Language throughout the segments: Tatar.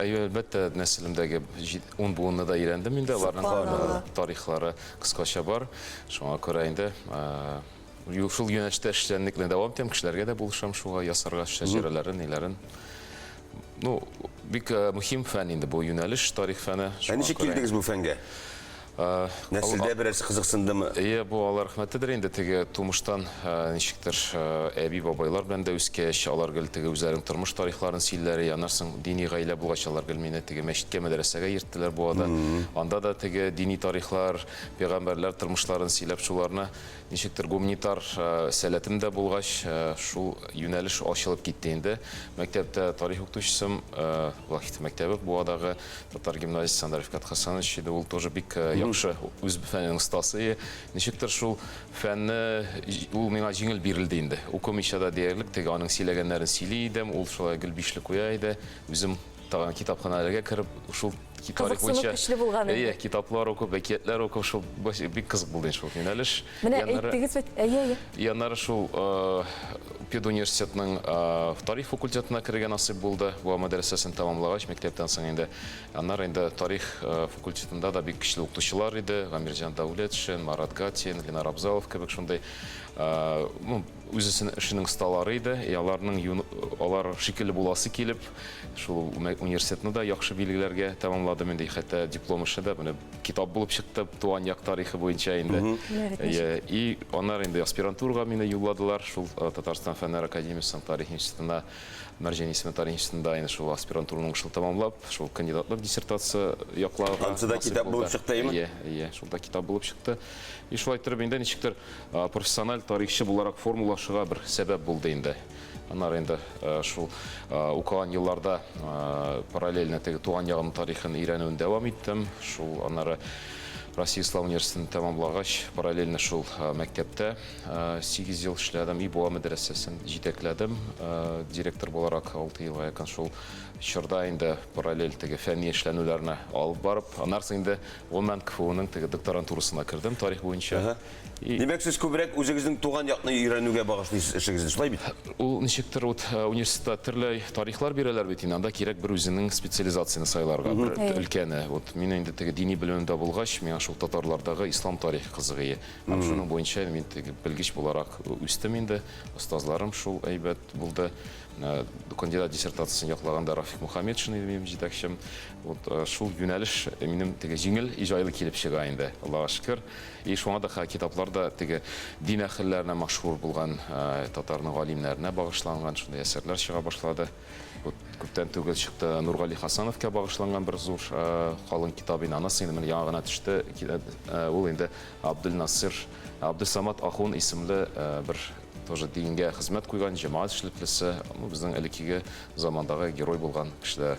Әйе, әлбәттә, нәселемдәге ун буынны да өйрәндем инде, аларның тарихлары кыскача бар. Шуңа күрә инде шул юнәштә эшчәнлекне дәвам итәм, кешеләргә дә булышам шуга, ясарга шәҗәрәләрен, ниләрен. Ну, бик мөһим фән инде бу юнәлеш, тарих фәне. Ә ничек килдегез бу фәнгә? Нәселдә берәрсе кызыксындымы? Әйе, бу Алла рәхмәтедер инде, теге тумыштан ничектер әби-бабайлар белән дә үскәч, алар гел теге үзләренең тормыш тарихларын сөйлиләр, и аннарсың дини гаилә булгач, алар гел мине теге мәчеткә, мәдрәсәгә йөрттеләр буада. Анда да теге дини тарихлар, пәйгамбәрләр тормышларын сөйләп, шуларны Ничектер гуманитар сәләтем дә булгач, шул юнәлеш ачылып китте инде. Мәктәптә тарих укытучысым, Вахит мәктәбе Буадагы татар гимназиясе Андрей Фкат Хасанович иде. Ул тоже бик яхшы үз фәненең остасы. Ничектер шул фәнне, ул миңа җиңел бирелде инде. Укымыйча да диярлек теге аның сөйләгәннәрен сөйли идем, ул шулай гел бишле куя иде. Үзем Тагын китапханәләргә кереп, шул тарих буенча көчле булган инде. Әйе, китаплар укып, әкиятләр укып, шул бик кызык булды шул юнәлеш. Менә әйттегез бит, әйе, әйе. Яннары шул педуниверситетның тарих факультетына керергә насыйп булды. Бу мәдрәсәсен тәмамлагач, мәктәптән соң инде. Аннары инде тарих факультетында да бик көчле укытучылар иде. Гамирҗан Дәүләтшин, Марат Гатин, Ленар Абзалов кебек шундый Үзесен эшенең сталары иде, и аларның юн, алар шикелле буласы килеп, шул университетны да яхшы билгеләргә тәмамладым инде, хәтта диплом эше дә менә китап булып чыкты, туган як тарихы буенча инде. Э, и аннары инде аспирантурага мине юлладылар, шул э, Татарстан фәннәр академиясенең тарих институтына, Мәрҗән исеме тарих институтында инде шул аспирантураның шул тәмамлап, шул кандидатлык диссертация якларга. Ансы да китап булып чыкты, әйме? Иә, иә, шул да китап булып чыкты. И шулай торып инде ничектер Профессиональ тарихчы буларак формулашуга бер сәбәп булды инде. Аннары инде шул укыган елларда параллельно теге туган ягым тарихын өйрәнүен дәвам иттем. Шул аннары Россия Ислам университетын тәмамлагач, параллельно шул мәктәптә 8 ел эшләдем. Ибуа мәдрәсәсен җитәкләдем директор буларак 6 елга якын. Шул чорда инде параллель теге фәнни эшләнүләрне алып барып, аннары инде гомумән КФУның теге докторантурасына кердем тарих буенча. Димәк, сез күбрәк үзегезнең туган якны өйрәнүгә багышлыйсыз эшегезне, шулай бит? Ул ничектер вот э, университетта төрле тарихлар бирәләр бит инде, анда кирәк бер үзенең специализацияне сайларга, бер өлкәне. Вот мин инде теге дини белемем дә булгач, миңа шул татарлардагы ислам тарихы кызыгые. Һәм шуның буенча мин теге белгеч буларак үстем инде. Остазларым шул әйбәт булды. Э, кандидат диссертациясен яклаганда Рафик Мухаммедшин иде минем җитәкчем. Вот э, шул юнәлеш минем теге җиңел, җайлы килеп чыга инде, Аллага шөкер. И шуңа да ха китаплар да теге дин әхелләренә мәшһүр булган татарның галимнәренә багышланган шундый әсәрләр чыга башлады. Күптән түгел чыкты Нургали Хасановка багышланган бер зур калын китап инде. Анысы инде менә яңа гына төште. Ул инде Абдулнасыр Абдусамат Ахун исемле бер тоже дингә хезмәт куйган җәмәгать эшлеклесе, ну безнең элеккеге замандагы герой булган кешеләр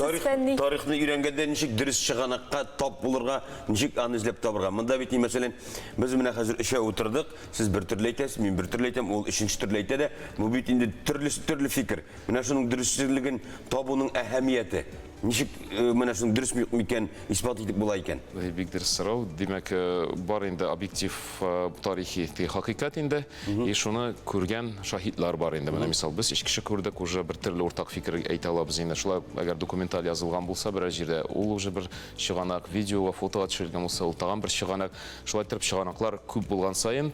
Тарих, фәнни... тарихны өйрәнгәндә ничек дөрес чыганакка тап булырга, ничек аны эзләп табырга. Монда бит, мәсәлән, без менә хәзер өчәү утырдык, сез бер төрле әйтәсез, мин бер төрле әйтәм, ул өченче төрле әйтә дә, бу бит инде төрлесе төрле фикер. Менә шуның дөресчелеген табуның әһәмияте. Ничек э, менә шуның дөрес микән исбат итеп була икән? Бик дөрес сорау. Димәк, э, бар инде объектив э, тарихи хакыйкать инде. И шуны күргән шаһитлар бар инде. Менә мисал, без өч кеше күрдек, уже бер төрле уртак фикер әйтә алабыз инде. Шулай ук, әгәр документаль язылган булса берәр җирдә, ул уже бер чыганак, видеога, фотога төшерелгән булса, ул тагын бер чыганак. Шулай итеп, чыганаклар күп булган саен,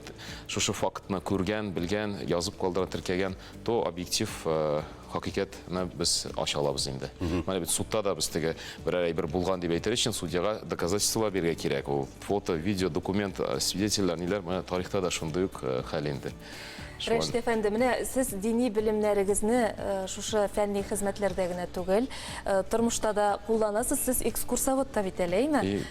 шушы фактны күргән, белгән, язып калдырган, теркәгән то объектив э, хакыйкатьне без ача алабыз инде. Менә бит судта да без теге берәр әйбер булган дип әйтер өчен судьяга доказательстволар бирергә кирәк. Ул фото, видео, документ, э, свидетельләр, ниләр, менә тарихта да шундый ук э, хәл инде. Шулай- Рәшит әфәнде, менә сез дини белемнәрегезне э, шушы фәнни хезмәтләрдә генә түгел, э, тормышта да кулланасыз. Сез экскурсовод та бит әле, әйме? И-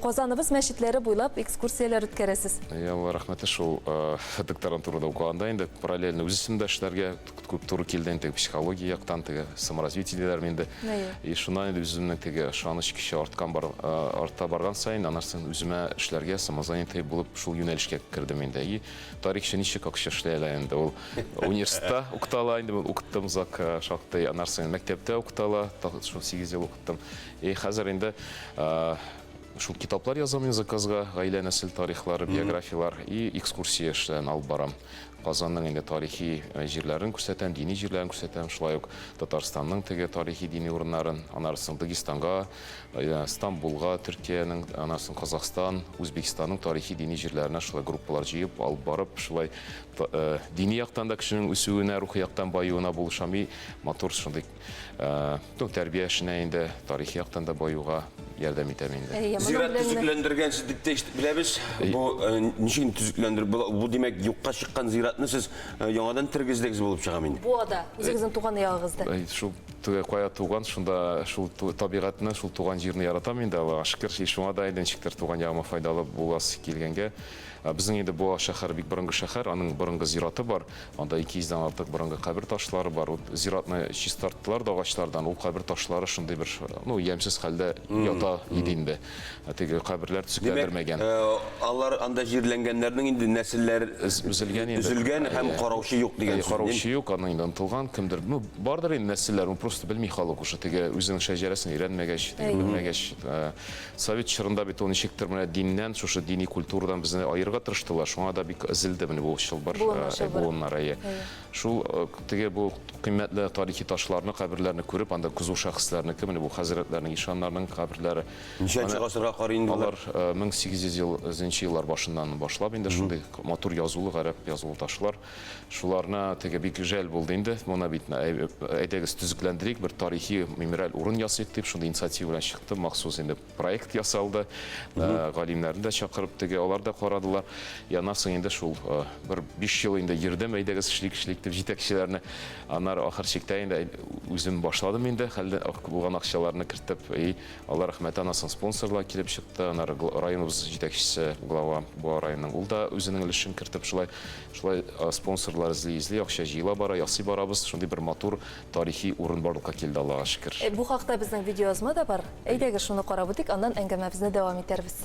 Казаныбыз мәчетләре буйлап экскурсияләр үткәрәсез. Алла рәхмәте шул э, докторантурада укыганда инде параллельно үз эшемдә эшләргә күп туры килде инде психология яктан теге саморазвитие диләрме инде. И шуннан инде үземнең теге ышаныч көче арткан бар, э, арта барган саен анарсын үземә эшләргә самозанятый булып шул юнәлешкә кердем инде. И тарихчы ничек акча эшли әле инде ул университетта укытала инде укыттым зак э, шактый анарсын мәктәптә укытала шул 8 ел кайттым. И хәзер инде шул китаплар язам мин заказга, гаилә нәсел тарихлары, биографияләр и экскурсия эшләрен алып барам. Казанның инде тарихи э, җирләрен күрсәтәм, дини җирләрен күрсәтәм, шулай ук Татарстанның теге тарихи дини урыннарын, анарсын Дагестанга, э, Стамбулга, Төркиянең, анарсын Казахстан, Үзбекстанның тарихи дини җирләренә шулай группалар җыеп алып барып, шулай э, дини яктан да кешенең үсүенә, рухи яктан баюына булышам и матур шундый Э, ну, тәрбия эшенә инде тарихи яктан да баюга ярдәм итәм инде. Э, Зират төзекләндергән сез дип тә беләбез. Э, бу ничек төзекләндер бу, бу димәк юкка чыккан зиратны сез яңадан тергездегез булып чыга мени. Бу ада үзегезнең туган ягыгызда. Шул кая туган, шунда шул табигатьне, шул туган җирне яратам инде Аллага шөкер. Шуңа да инде ничектер туган ягыма файдалы буласы килгәнгә. Безнең инде бу шәһәр бик борынгы шәһәр, аның борынгы зираты бар. Анда ике йөздән артык борынгы кабер ташлары бар. Вот зиратны чистарттылар да агачлардан. Ул кабер ташлары шундый бер, ну, ямьсез хәлдә ята иде инде. Ә теге каберләр төзекләндермәгән. Димәк, алар анда җирләнгәннәрнең инде нәселләр өзелгән инде. Өзелгән һәм караучы юк дигән сүз. Караучы юк, аны инде онтылган кемдер. Ну, бардыр инде нәселләр, ну, просто белми халык уже. Теге үзенең шәҗәрәсен өйрәнмәгәч, белмәгәч. Совет чорында бит ул ничектер менә диннән, шушы дини культурадан безне аерырга тырыштылар, шуңа да бик өзелде менә бу чылбыр, буыннар, әйе. Шул теге бу кыйммәтле тарихи ташларны, каберләрне күреп, анда кызу шәхесләрнеке, менә бу хәзрәтләрнең, ишаннарның каберләре. Ничәнче гасырга карый инде алар? Алар 1800 еллар башыннан башлап инде шундый матур язулы, гарәп язулы ташлар. Шуларны теге бик жәл булды инде. Моны бит әйдәгез төзекләндерик, бер тарихи мемориаль урын ясыйк дип, шундый инициатива белән чыкты. Махсус инде проект ясалды. Э, галимнәрне дә чакырып теге, алар да карадылар. Яннан соң инде шул э, бер 5 ел инде йөрдем, әйдәгез эшлик, эшлик дип җитәкчеләрне. Аннары ахыр чиктә инде үзем башладым инде, хәлдә булган акчаларны кертеп, и алар рәхмәт анасың спонсорлар килеп чыкты. Аннары районыбыз җитәкчесе, глава, бу районның ул да үзенең өлешен кертеп шулай Шулай спонсорлар эзли-эзли, акча җыела бара, ясый барабыз. Шундый бер матур тарихи урын барлыкка килде, Аллага шөкер. Бу хакта безнең видеоязма да бар. Әйдәгез, шуны карап үтик, аннан әңгәмәбезне дәвам итәрбез.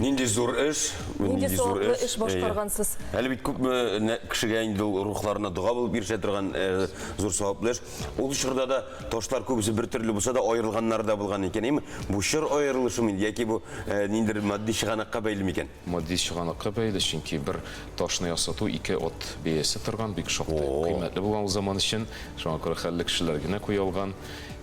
Нинди зур эш, нинди зур эш. эш башкаргансыз. Әле бит күпме кешегә инде ул рухларына дога булып ирешә торган э, зур саваплы эш. Ул чорда да ташлар күбесе бер төрле булса да аерылганнар да булган икән. Эми бу чор аерылышы мин яки бу э, ниндер матди чыганакка бәйле микән? Матди чыганакка бәйле, чөнки бер ташны ясату ике от бәясе торган, бик шактый кыйммәтле булган ул заман өчен. Шуңа күрә хәлле кешеләр генә куя алган.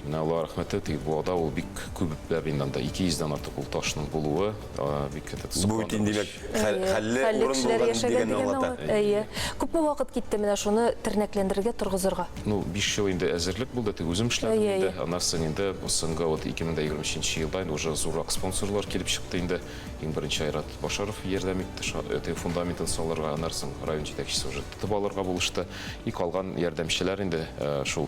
Менә Аллаһ рәхмәте тиеп, бу ада ул бик күпләп инде анда 200 дән артык ул ташның булуы, а, бик это Бу сокландыргыч. бит инде димәк хәл- Әйе, хәлле хәлле урын кешеләр булган яшәгән дигәнне дигәнне аңлата. аңлата. Әйе. Күпме вакыт китте менә шуны тернәкләндерергә, торгызырга? Ну, биш ел инде әзерлек булды, тик үзем эшләдем Әйе, инде. әйе. Аннан соң инде соңгы вот 2023 елда инде уже зуррак спонсорлар килеп чыкты инде. Иң беренче Айрат Башаров ярдәм итте, ша- этой фундаментын салырга, аннан соң район җитәкчесе уже тотып алырга булышты. И калган ярдәмчеләр инде, э, шул